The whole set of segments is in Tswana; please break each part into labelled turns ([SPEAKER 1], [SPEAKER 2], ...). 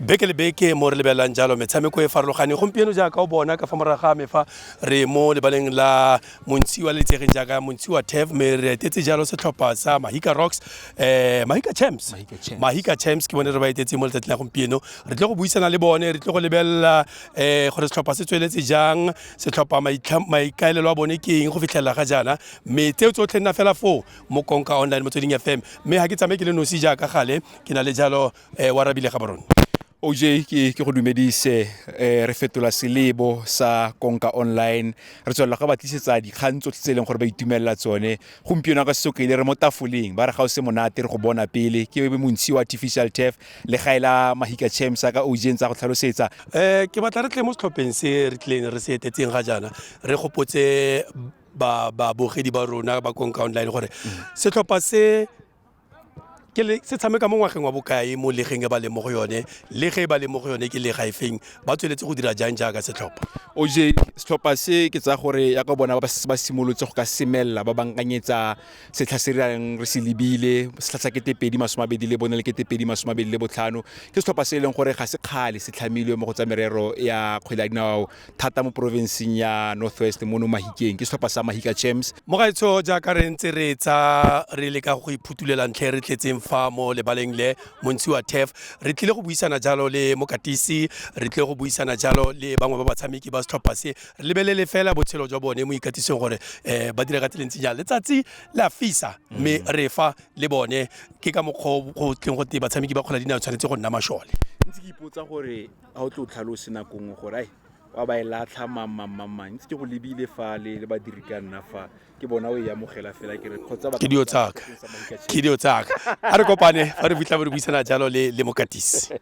[SPEAKER 1] beke le beke mo re lebelelang jalo metshameko e farologane gompieno jaaka o bona ka fa morago ga me fa re mo lebaleng la montshiwa le itsegeng jaaka montshiwa tef me re etetse jalo setlhopha sa mahika rocks um mahika champs mahika champs ke bone re ba etetseng mo letsatsing la gompieno re tle go buisana le bone re tle go lebelela um gore setlhopha se tsweletse jang setlhopha maikaelelo a bone ke eng go fitlhelela ga jaana mme tseo tsotlhe nna fela foo mo konka online motsweding fm mme ga ke tsamaye ke le nosi jaaka gale ke na le jalo Eh, wa rabile ga borone oj ke
[SPEAKER 2] ke go dumedise eh, re fetola selebo sa konka online re tswelela go ba tlisetsa dikgang tsotlhe tse e leng gore ba itumelela tsone gompieno ka sesoka ile re mo tafoleng ba re ga o se monate re go bona pele ke montshi wa artificial turf le ga ela mahika champs a ka oj tsa go tlhalosetsa um ke batla re tle
[SPEAKER 1] mo setlhopheng se re tlileng re se etetseng ga jaana re gopotse babogedi ba rona ba konka online gore mm. setlhopha se ke le se tshameka mo ngwageng wa bokae mo legeng e ba leng mo go yone le ge e ba leng mo go yone ke lega e feng ba tsweletse go dira jang jaaka setlhopha oj
[SPEAKER 2] setlhopha se ke tsa gore ya ka bona ba setse ba simolotse go ka semelela ba bankanyetsa setlha se rang re se lebile setlha sa kete pedi masome abedi le bone le kete pedi masome abedi le botlhano ke setlhopha se e leng gore ga se kgale se tlhamilwe mo go tsa merero ya kgwele ya dinao thata mo porofenseng ya north west mono mahikeng ke setlhopha sa mahika champs mo gaetsho jaaka re
[SPEAKER 1] ntse re tsa re le ka go iphutulela ntlha e re tletseng fa mo lebaleng le montsi wa tef re tlile go buisana jalo le mokatisi re tlile go buisana jalo le bangwe ba batshameki ba setlhopha se re lebelele fela botshelo jwa bone mo ikatiseng gore um ba dira ka tseleng tse jang letsatsi la fisa mme re fa le bone ke ka mokgwa o go tleng go te batshameki ba kgwele dinao tshwanetse go nna mashole ntse ke ipotsa
[SPEAKER 2] gore ga o tle o tlhalose nako nngwe gore ai wa ba e latlha mamamamang ntse ke go lebile fale le badiri ka nna fa ke bona o e amogela fela ke re kgotsa ba ke dio tsaka
[SPEAKER 1] ke dio tsaka a re kopane fa re fitlha re buisana jalo le le mokatisi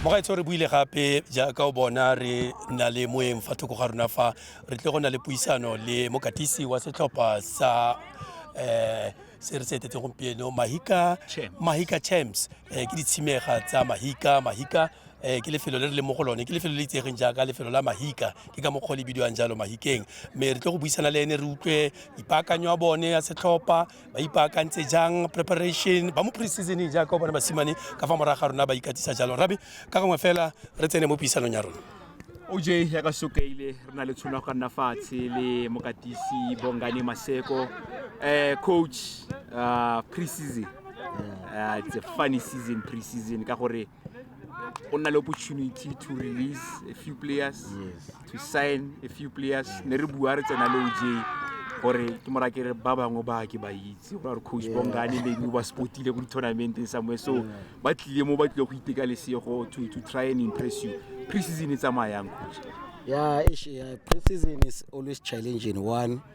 [SPEAKER 1] mogaetsho re buile gape jaaka o bona re nna le moeng fa thoko ga rona fa re tle go na le puisano le mokatisi wa setlhopha sa um se re se etetse gompieno mahika mahika champs um ke ditshimega tsa mahika mahika um ke lefelo le re leng mo go lone ke lefelo le itsegeng jaaka lefelo la mahika ke ka mokgwa le bidiwang jalo mahikeng mme re tle go buisana le ene re utlwe ipaakanyo a bone ya setlhopha ba ipaakantse jang preparation ba mo pre-seasoneng jaaka o bona basimane ka fa morago ga rona ba ikatisa jalo rabi ka gongwe fela re tsene mo puisanong ya rona oj ya ka
[SPEAKER 2] sokaile re na le tshono ya go ka nna fatshe le mokatisi bongane maseko um coach uh, pre-season uh, it's a funny season pre-season ka gore go nna le opportunity to release a few players yes. to sign a few players ne re bua re tsena le oj gore ke mora ke re ba bangwe ba ke ba itse go gore coach bongane maybe o ba spotile ko di-tournamenteng somewhere so ba tlile mo ba tlile go iteka lesego to, to try and impress you pre-season e tsamayang coach yeah, yeah
[SPEAKER 3] pre-season is always challenging one yeah.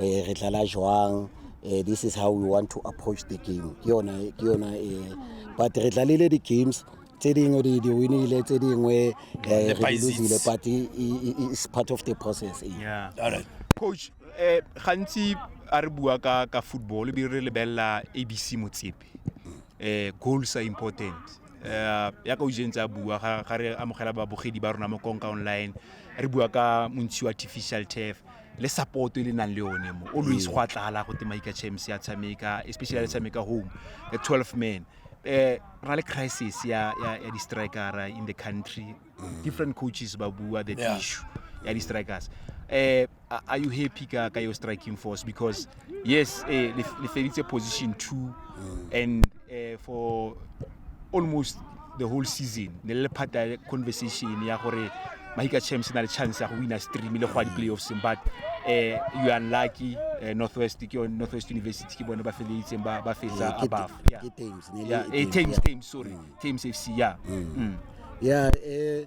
[SPEAKER 3] eh, re tlala jwang eh, this is how we want to approach the game ke yona ke yona eh, but re tlalile di-games tse dingwe di di winile tse dingwe eh, re di losile but i- i- i- it's part of the process eh. Yeah. Alright.
[SPEAKER 1] coach eh,
[SPEAKER 2] gantsi a re bua ka ka football ebile re lebelela abc motsepe eh, goals are important eh, yaka o jentse a bua ga ga re amogela babogedi ba rona mo konka online re bua ka montshi wa artificial turf le support e le nang le yone mo always go a tlala go te maika champs ya tshameka especially le tshameka home a 12 man eh ra le crisis ya ya, ya di-striker in the country different coaches ba bua that Yeah. issue ya di-strikers eh are are you happy ka ka your striking force because yes eh, le le feditse position two and eh, for almost the whole season ne le phata ya conversation ya gore mahika champs e na le chance ya go wina stream le go ya di-playoffs but eh, you are unlucky eh, northwest ke yone- northwest university ke bone ba feleitseng ba ba fetsa Eh, ke- above yeah. ke Thames, ne le Yeah, e eh, Thames, Thames, yeah. Thames, sorry. Mm. Thames FC, yeah. Mm. ya eh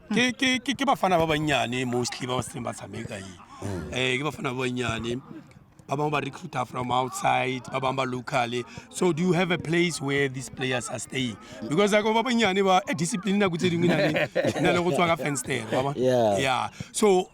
[SPEAKER 3] ke ke
[SPEAKER 1] ke ke bafana ba bannyane mostly ba ba setseng ba tshameka e um ke bafana ba bannyane ba bangwe ba recruiter from outside ba bangwe ba locally so do you have a place where these players are staying because ako ba bannyane ba eh, discipline nako tse dingwe e na le- e na le go tswa ka fenster ba ba? Yeah. yeah so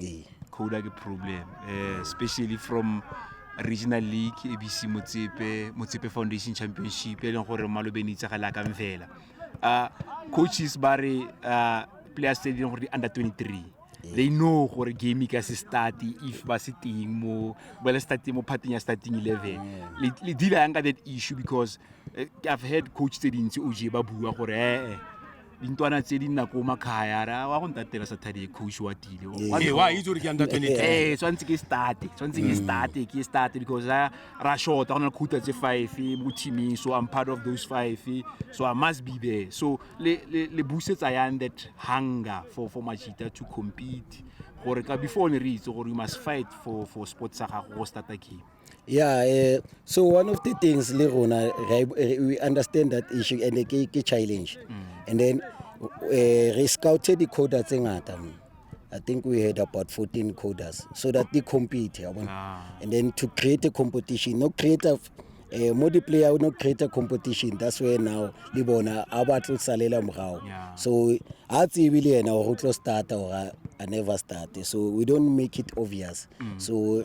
[SPEAKER 2] ee coda ke problem eh, especially from regional league abc motsepe motsepe foundation championship e leng gore malobeng itse ga lakang fela uh, coaches ba re uh, players tse e leng gore di under 23 they know gore game ka se start if ba se teng mo ba le starting mo parting ya starting 11 le le deal yang ka that issue because uh, i've heard coach tse dintsi o je ba bua gore eh, eh dintwana tse di nna ko makgaya ra wa go ntatela sa thadi kgosi wa tile Ee, wa itse gore ke
[SPEAKER 1] under 23. ee tshwanetse ke starte
[SPEAKER 2] tshwanetse ke Mm. starte ke starte because ra ra shota go na le khuta tse five mo teaming so i'm part of those five so i must be there so le le le busetsa yang that hunger for for machita to compete gore ka before ne re itse gore you must fight for for sport sa gago go starta game Yeah, uh,
[SPEAKER 3] so one of the things le rona we understand that issue and ke ke challenge. Mm. And then uh, re scouted di-coder tse ngata mo. I think we had about 14 coders so that they compete yeah, ah. and then to create a competition no create a eh, mo di-player no create a competition that's where now le bona a ba tlo salela morago so a tsebe le yena gore o tlo starta or a never starte so we don't make it obvious mm. so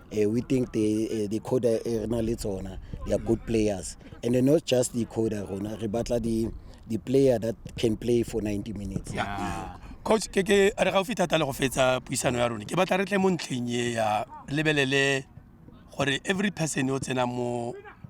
[SPEAKER 3] Uh, we think the, uh, the coder e re na le tsona they are good players and then not just the coder rona re batla the, the player that can play for 90 minutes yeah. Yeah. coach
[SPEAKER 1] ke ke a re gaufi thata le go fetsa puisano ya rone ke batla re tle mo ntlheng e ya lebelele gore every person o tsena mo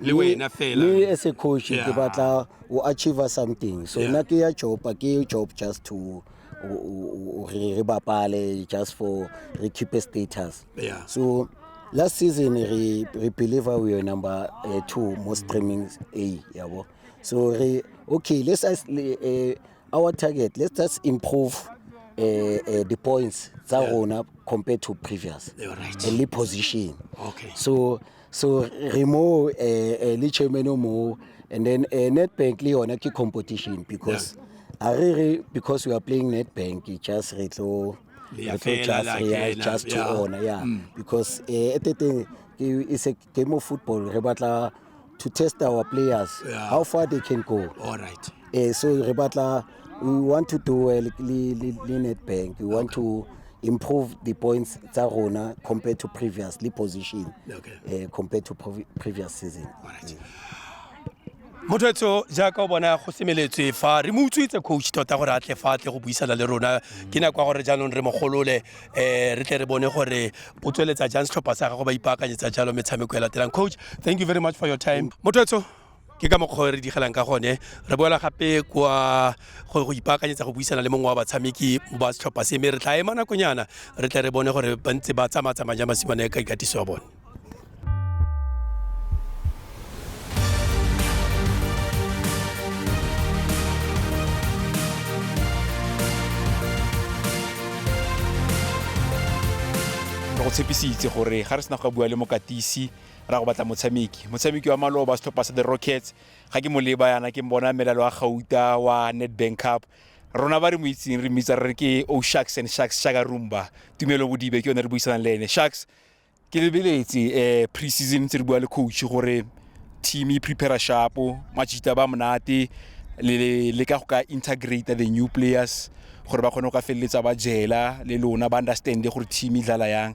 [SPEAKER 1] le wena fela me as a coach ke
[SPEAKER 3] Yeah. batla o achieve something so Yeah. nna ke ya job a ke ye job just to o- o- o- re re bapale just for re keep a status Yeah. so last season re re believer we were number uh, two most streaming a yabo so re okay let's us le- eh, our target let's just improve uh, uh, the points tsa rona compared to previous You're right. and le position Okay. so
[SPEAKER 1] so
[SPEAKER 3] re mo eh, eh, le chairman o mo and then eh, netbank le yone ke competition because a re re because we are playing netbank e just re tlo Le ya re tlo fela, just le ya re ya kena, just to yeah. honor yeah Mm. because eh, at the thing ke- it's a game of football re batla to test our players Yeah. how far they can go all right eh,
[SPEAKER 1] so re batla
[SPEAKER 3] we want to do well le, le, le Nedbank. We want to improve the points tsa rona compared to previous le position okay. uh, compared to previous season. All right.
[SPEAKER 1] Yeah. mothoetso jaaka o bona go semeletswe fa re mo utswitse coach tota gore a tle fa tle go buisana le rona ke nako ya gore jaanong re mogolole um re tle re bone gore o tsweletsa jang setlhopha sa gago ba ipaakanyetsa jalo metshameko e latelang coach thank you very much for your time mothoetso ke ka mokgwa re digelang ka gone re boela gape kwa go ipaakanyetsa go buisana le mongwe wa batshameki ba setlhopha se mme re tla ema nakonyana re tle re bone gore ba ntse ba tsamatsamaya ja masimane ka ikatiso ya bone
[SPEAKER 2] go tshepisitse gore ga re sena go bua le mokatisi ra go batla motshameki motshameki wa maloba setlhopha sa the rockets ga ke mo leba yana ke mbona melalo wa gauta wa netbank cup rona ba re mo itseng re mmitsa re ke o sharks and sharks shaka rumba tumelo bodibe ke yone re buisanang le ene sharks ke lebeletse um pre season tse re bua le coach gore team e prepare shapo majita ba monate le le ka go ka integrate the new players gore ba kgone go ka feleletsa ba jela le lona ba understand gore team e dlala yang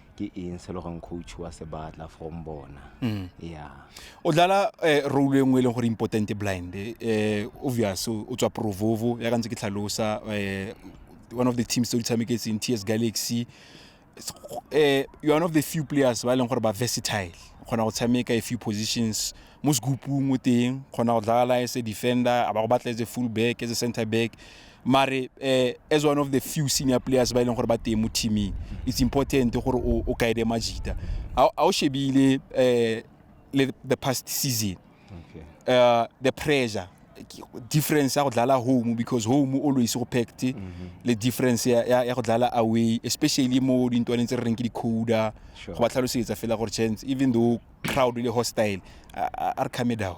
[SPEAKER 4] ke eng se le goreng coach wa se batla from bona mm. yeah o dlala
[SPEAKER 2] eh, role e nngwe e leng gore important blind eh, obvious o tswa provovo ya ka ntse ke tlhalosa eh, one of the teams tse di tshameketseng ts galaxy eh, you're one of the few players ba e leng gore ba versatile kgona go tshameka a few positions mo segupung o teng kgona go dlala as a defender a ba go batla as a full back as a center back mare um as one of the few senior players ba e leng gore ba teng mo teaming it's important gore o guide majita a o shebile um le the past season uh, the pressure difference ya go dlala home because home always go packed mm -hmm. le difference ya, ya go dlala away especially mo dintwaneng tse re reng ke di-coda sure. go ba tlhalosetsa fela gore chance even though crowd le hostile a re calme down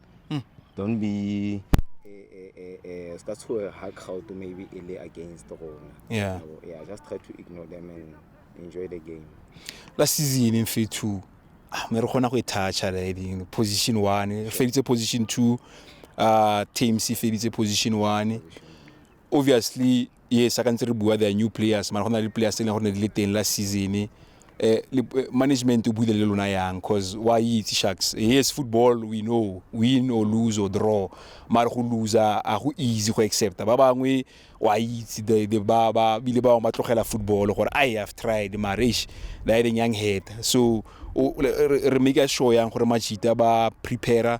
[SPEAKER 4] Hmm. don't be uh, ska tshoe ha crowd maybe e le against rona yeah. yeah just
[SPEAKER 2] try to
[SPEAKER 4] ignore them and enjoy the game la season
[SPEAKER 2] in phase two ah, me re kgona go e thatcha riding position one e feditse position two uh, teams e feditse position one obviously ee sa ka ntse re bua the new players mara go na le players e leng gore ne di le teng la season eh, eh management o buile le lona yang because wa itse sharks eh, yes football we know win or lose or draw mara go loser a go easy go accepta ba bangwe wa itse ba ba bile ba ba tlogela football gore i have tried marish the yang head so re make sure yang gore machita ba prepare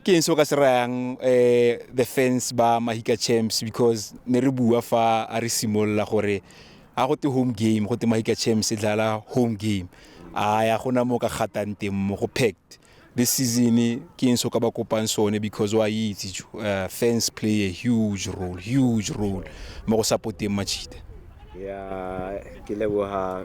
[SPEAKER 2] ke eng se o ka se rayang um the fans ba mahika champs because ne re bua fa a re simolola gore a go te home game go te mahika champs e dlala home game a ya gona mo ka gatang teng mo go packed this season ke eng se o ka ba kopang sone because wa itse jo, uh, fans play a huge role huge role mo go supporteng machita ya
[SPEAKER 4] ke leboga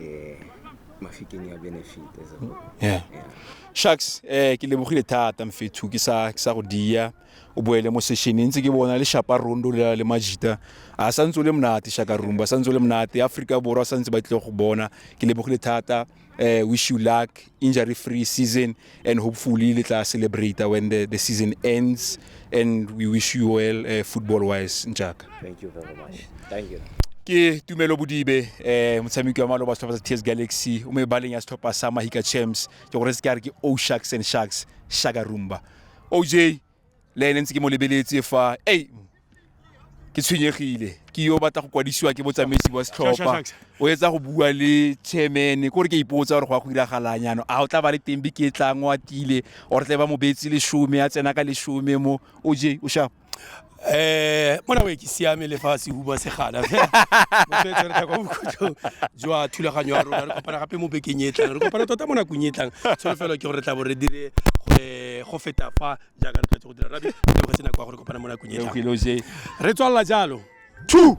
[SPEAKER 4] eh, mafikeng ya benefit as a whole. yeah Yeah.
[SPEAKER 2] sharks eh ke lebogile thata mfethu ke sa ke sa go dia o boele mo sessioneng ntse ke bona le shapa rondo le le majita a sa ntse o le monate shaka rumba sa ntse o le monate africa borwa sa ntse ba tlile go bona ke lebogile thata eh wish you luck injury free season and hopefully le tla celebrate when the, the season ends and we wish you well uh, football wise njaka thank you very much
[SPEAKER 4] thank you ke tumelo
[SPEAKER 2] bodibe eh motshameki wa maloba setlhopha sa ts galaxy o mebaleng ya setlhopha sa mahika champs ke gore se ke a re ke o sharks and sharks shaka rumba oj le ene ntse ke mo lebeletse fa ei ke tshwenyegile ke yo batla go kwadisiwa ke botsamaisi ba setlhopha o etsa go bua le chairman ko re ke ipotsa gore go ya go diragalang yana a o tla ba le teng be ke tlang o atile or tle ba mobetsi leshome a tsena ka leshome mo o je o shapa eh mona we ke siame le fa se huba se gala jwa thulaganyo ya rona re kopana gape mo bekeng e tlang re kopana tota mo nakong e tlang tsholofelo ke gore re tla bo re dire eh go feta fa jaaka re tletse go dira rabi ke go sena kwa gore kopana mo nakong e tlang Eloge. re tswalela jalo two